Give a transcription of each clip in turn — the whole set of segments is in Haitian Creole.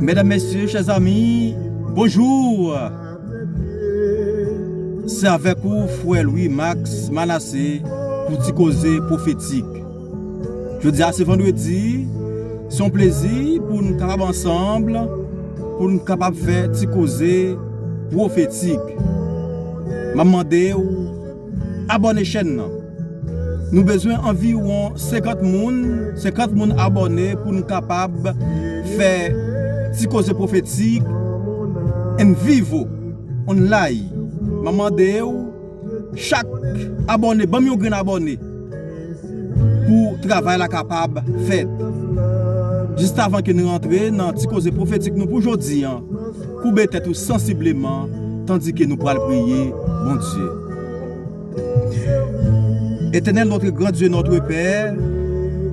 Medam mesye chè zami bonjour se avèk ou frè Louis Max Manassé pou ti koze profetik jodi a se vandredi se yon plezi pou nou kapab ansanm pou nou kapab fè ti koze profetik map mande ou Abòne chèn nan. Nou bezwen anviwon 50 moun, 50 moun abòne pou nou kapab fè Ti Koze Pwofetik en vivo, online. Map mande w chak abòne banm yon grenn abòne pou travay la kapab fèt. Jistavan ke nou rantre nan Ti Koze Pwofetik nou pou jodi an. Koube tèt ou sansibleman tandike nou pral priye Bondye. Etènèl notre grand Dieu notre Père,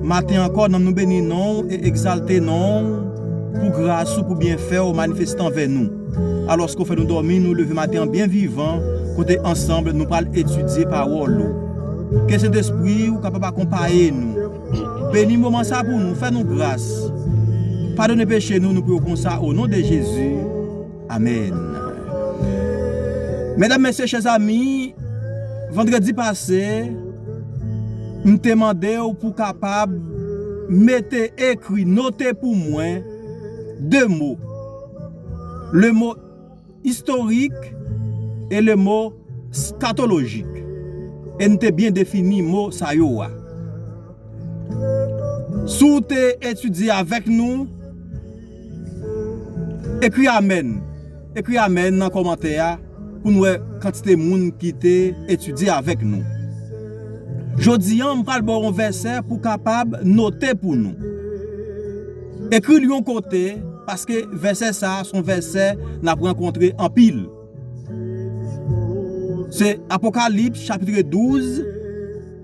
maten ankò nanm nou beni non w e egzalte non w pou gras ou pou byenfè w manifeste anvè nou. Alòske w fè nou dòmi nou leve maten an byen vivan kote ansanble nou pral etidye pawòl ou. Ke Sentespri ou kapab akonpaye nou. Beni moman sa pou nou, fè nou gras. Padone peche nou, nou priye w konsa o non de Jezi. Amen. Medam, mesye, chè zami, vandredi pase, m te mande w pou kapab mete ekri, note pou mwen 2 mo. Le mo Istorik e le mo scatologic e n te byen defini mo sa yo a. Si w te etidye avèk nou, ekri amèn, ekri amèn nan kòmantè a pou n wè kantite moun ki te etidye avèk nou. Jodi an m pral ba w yon vèsè pou w kapab note pou nou. Ekri l yon kote, paske vèsè sa a se yon vèsè n ap rankontre anpil. Se Apokalips chapitre 12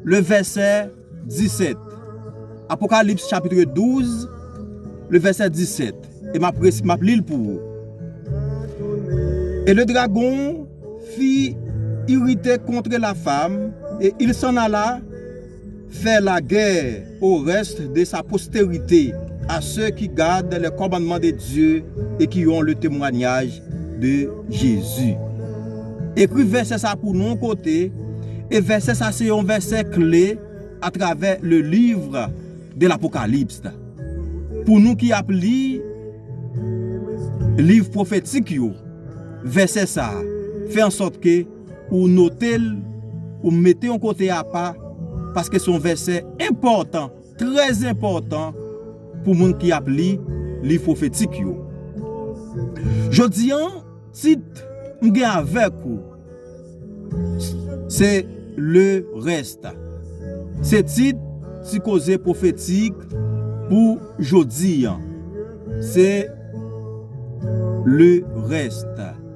le vèsè 17. Apokalips chapitre 12 le vèsè 17. E m ap resi, m ap li l pou ou. E le dragon fi irite kontre la fam, e il s'en alla, Fè lagè o rès de sa posterite, a se ki gad lè kòmannman de Dye e ki on le temwanyaj de Jezi. Ekri vèsè sa pou nou kote, e vèsè sa se on vèsè kle a travè le livre de l'Apocalypse. Pou nou ki ap li liv pwofetik yo, vèsè sa fè an sòt ke, pou w note l, pou w mete yon kote apa, paske se yon vèsè enpòtan, trè enpòtan pou moun ki ap li liv pwofetik yo. Jodi an, tit m gen avèk ou se Le Reste. Se tit ti koze pwofetik pou jodi an. Se Le Reste.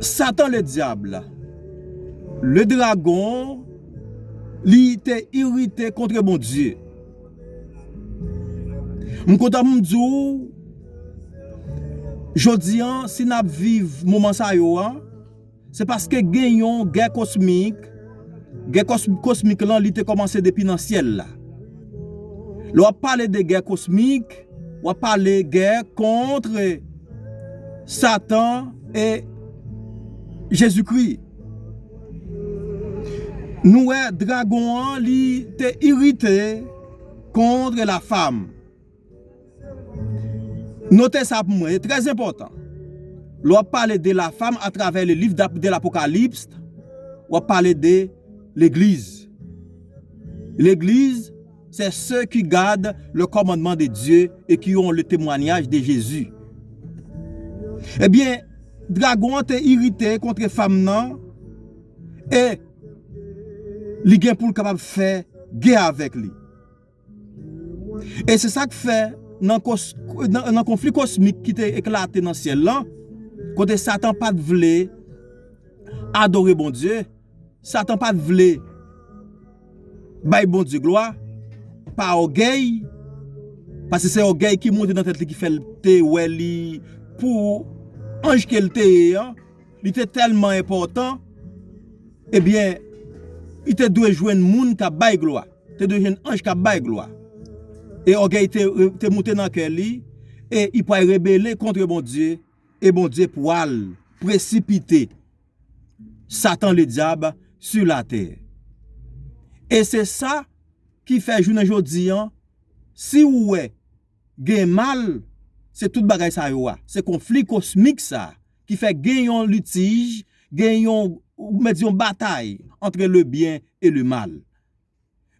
Satan le dyab, le dragon, li te irite kontre Bondye. M kontan pou m di w, jodi an, si n ap viv moman sa yo an, Se paske gen yon gè kosmik, gè kosmik lan li te kòmanse depi nan syèl la. Lè w ap pale de gè kosmik, w ap pale gè kontre Satan e Jezikri. Nou wè dragon an li te irite kontre la fam. Note sa pou mwen, e trè enpòtan. Lè w ap pale de la fam a travè le liv de l'Apocalypst, w ap pale de legliz. Legliz, sè se ki gad le kòmandman de Dye e ki yon le temwanyaj de Jezi. Ebyen, dragon an te irite kontre fam nan e li gen pou l kapab fè gè avèk li. E se sa k fè, nan konfli kosmik ki te eklate nan syèl la, kote Satan pa t vle adore Bondye, Satan pa t vle bay Bondye glwa, pa ògèy, paske se ògèy ki monte nan tèt li ki fè l te wè li pou anj ke l te ye an, li te tèlman enpòtan, ebyen, li te dwe jwenn moun k ap bay glwa. te dwe jwenn anj kap bay glwa. E ògèy te moute nan kè li, e i pwal rebele kontre Bondye, e Bondye pwal presipite Satan le dyab su la tè. E se sa ki fè jounen jodi an, si ou wè gen mal, se tout bagay sa yo a, se konfli kosmik sa, ki fè gen yon litij, gen yon, ou mèt di yon batay, antre le byen e le mal.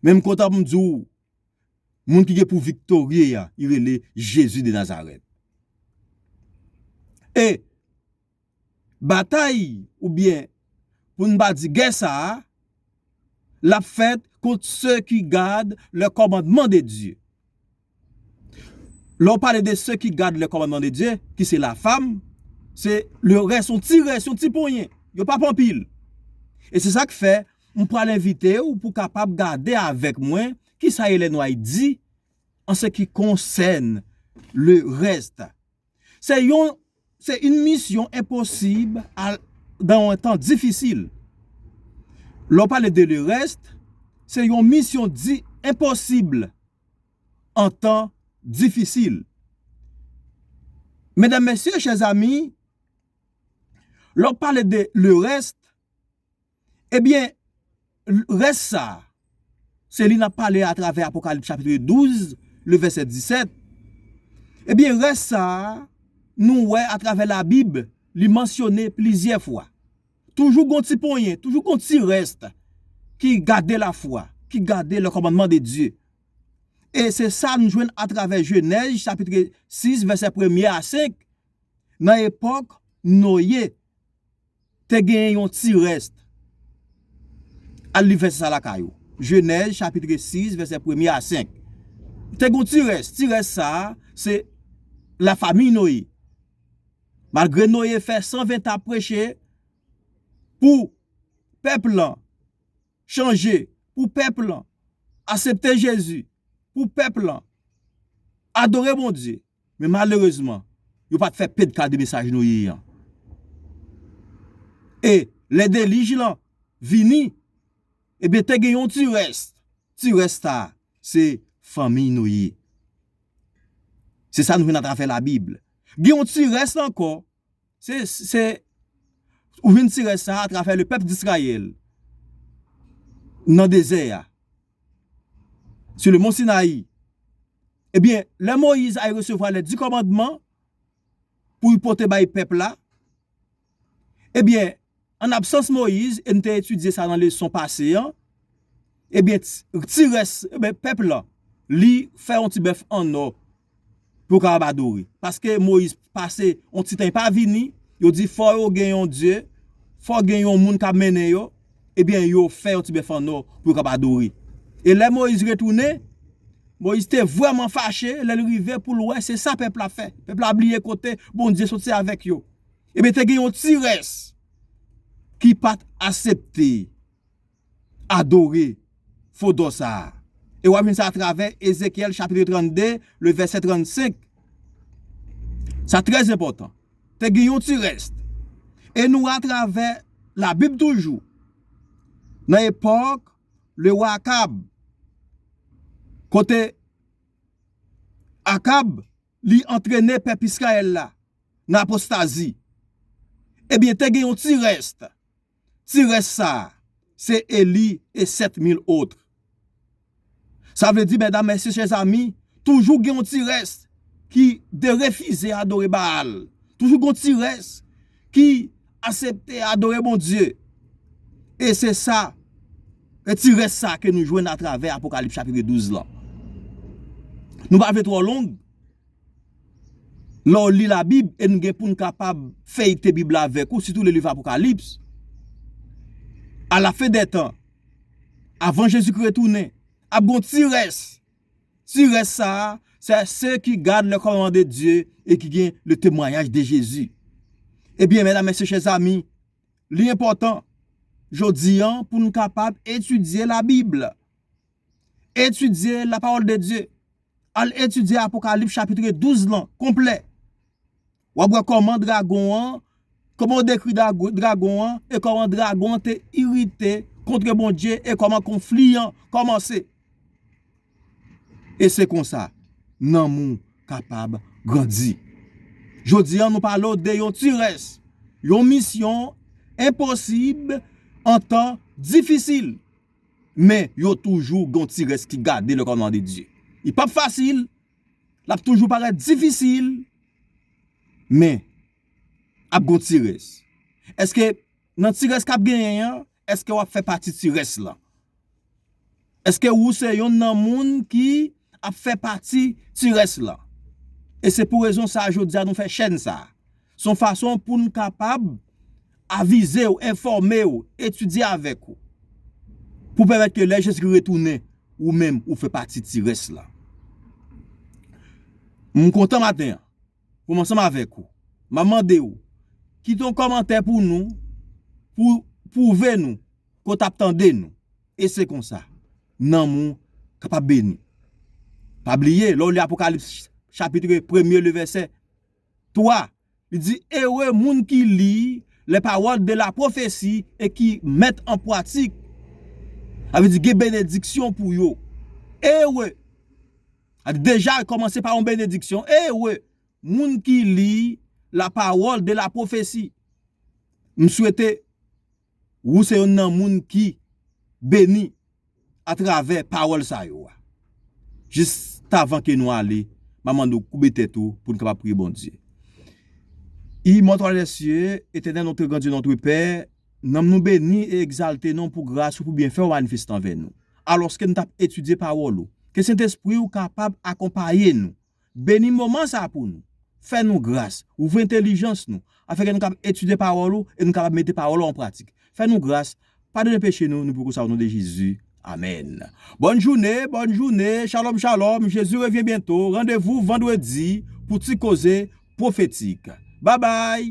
Men m kontan pou m di w, moun ki gen pou viktorye a, li rele Jezi de Nazarèt. E, batay ou byen pou n pa di gè sa a, l ap fèt kont se ki gad le kòmandman de Dye. Lè w pale de se ki gad le kòmandman de Dye, ki se la fam, se le rès, yon ti rès, yon ti ponyen, yo pap anpil. E se sa k fè, m pral envite w pou w kapab gade avèk mwen ki sa Ellen White di an se ki konsèn le rès. Se yon Se yn misyon enposib al dan yon tan difisil. Lè w pale de le reste, se yon misyon di enposib an tan difisil. Medam, mesye, chè zami, lè w pale de le reste, Ebyen, rès sa, se li nap pale atravè Apokalip chapitre 12, le vèsè 17. Ebyen, rès sa, nou wè atravè la Bib, li mansyone plizyè fwa. Toujou gon ti ponyen, toujou gon ti rès ki gade la fwa, ki gade le kòmandman de Dye. E se sa nou jwenn atravè Jenèz chapitre 6, vèsè premye a 5, nan epòk Noye, Te genyen yon ti rèst. Al li vèsè sa a lakay ou. Jenèz chapitre 6 vèsè premye a senk. Te gen yon ti rès. Ti rès sa a, se lafamiy Noye. Malgre Noye fè sanventa ap preche pou pèp lan chanje, pou pèp lan asepte Jezi, pou pèp lan adore Bondye, Men malerezman, yo pa t fè pedka de mesaj Noye an. E, lè delij lan vini, ebyen te gen yon ti rès, ti rès sa a, se fanmiy Noye. Se sa nou jwenn atravè Labib. Gen yon ti rès ankò. Se, se, ou vin tire sa atravè le pèp d'Israël nan dezè a, sur le mont Sinaï. Ebyen, lè Moïse al resevwa les dix commandements pou l pote bay pèp la, ebyen, An absans Moyiz, e n te etidye sa nan leson pase an, ebyen ti rès pèp la, li fè yon ti bèf annò pou yo kapab adore. Paske Moyiz pase yon ti tan li pa vini, yo di fò yo gen yon dye, fò gen yon moun k ap mennen yo, ebyen yo fè yon ti bèf annò pou yo kapab adore. E lè Moyiz retounen, Moyiz te vrèman fache lè l rive pou l wè se sa pèp la fè. Pèp la bliye kote Bondye soti avèk yo. Ebyen te gen yon ti rès ki pat asepte adore fo dò sa a. E w ap jwenn sa atravè Ezekyèl chapitre 32 le vèsè 35. Sa trè enpòtan. Te gen yon ti rès. E nou wè atravè labib toujou nan epòk le wa Akab kote Akab. Li antrene pèp Israël la nan apostazi. Ebyen te gen yon ti rest. Ti rest sa a se Elie et 7000 autres. Sa vle di mèdam mèsye chè zami, toujou gen yon ti rest ki derefize adore Baal. Toujou gen yon ti rest ki Asepte adore Bondye. E se sa, e ti rès sa ke nou jwenn atravè Apokalips chapitre 12 lan. Nou pa vle twò long, lè w li la Bib e nou gen pou nou kapab feyte Bib la avèk ou, sitou le liv Apokalips, a la fen dè tan, avan Jezikri retounen, ap gon ti rès Ti rès sa a, se se ki gad le kòmanman de Dye e ki gen le temwanyaj de Jezi. Ebyen, mèdam, mèsye, chè zami, li enpòtan jodi a pou nou kapab etidye Labib, etidye lapawòl de Dye, al etidye Apokalips chapitre 12 lan konplè Wap wè kòman dragon an, kòman yo dekri dragon an e kòman dragon an te irite kontre Bondye e kòman konfli an kòmanse. E se konsa nanm ou kapab grandi. Jodi an nou pale w de yon ti rès, yon misyon enposib an tan difisil. Men yo toujou gon ti rès ki gade le kòmandman de Dye. Li pap fasil. L ap toujou parèt difisil, men, ap gon ti rès. Èske nan ti rès k ap genyen an, èske w ap fè pati ti rès lan? Èske ou se yonn nan moun ki ap fè pati ti rès lan? E se pou rezon sa a jodi a nou fè chèn sa a. Se yon fason pou nou kapab avize ou, enfòme ou, etidye avèk ou. Pou pèmèt ke lè Jezikri retounen, ou menm ou fè pati ti rès la. M kontan maten an pou m ansanm avèk ou. M ap mande ou, kite yon kòmantè pou nou, pou ou pwouve nou ke w t ap tande nou. E se konsa, nanm ou kapab beni. Pa bliye, lè w li Apokalips chapitre premye, le vèsè. 3, Li di, Ere moun ki li les paroles de la prophétie e ki mèt an pwatik. Sa vle di gen benediksyon pou yo. Ere, sa vle di deja li kòmanse pa yon benediksyon, ere moun ki li la parole de la prophétie. M swete Wou se yonn nan moun ki beni a travè pawòl sa yo a. Jistavan ke nou ale, m ap mande w koube tèt ou pou n kapab priye Bondye. Imòtèl dè sye, Etènèl Nontre Grandye Nontre Pè, nanm nou beni e egzalte non pou gras ou pou byenfè ou manifeste anvè nou. Alòske nou t ap etidye pawòl ou, ke Sentespri ou kapab akonpaye nou Beni moman sa a pou nou. Fè nou gras. Ouvri entelijans nou. Afenke nou kab etidye pawòl ou e nou kapab mete pawòl ou an pratik. Fè nou gras. Padone peche nou. Nou poko sa o non de Jezi. Amèn. Bòn joune, bòn joune, shalom shalom, Jezi revyen byento, randevou vandredi pou ti koze pwofetik. Babay!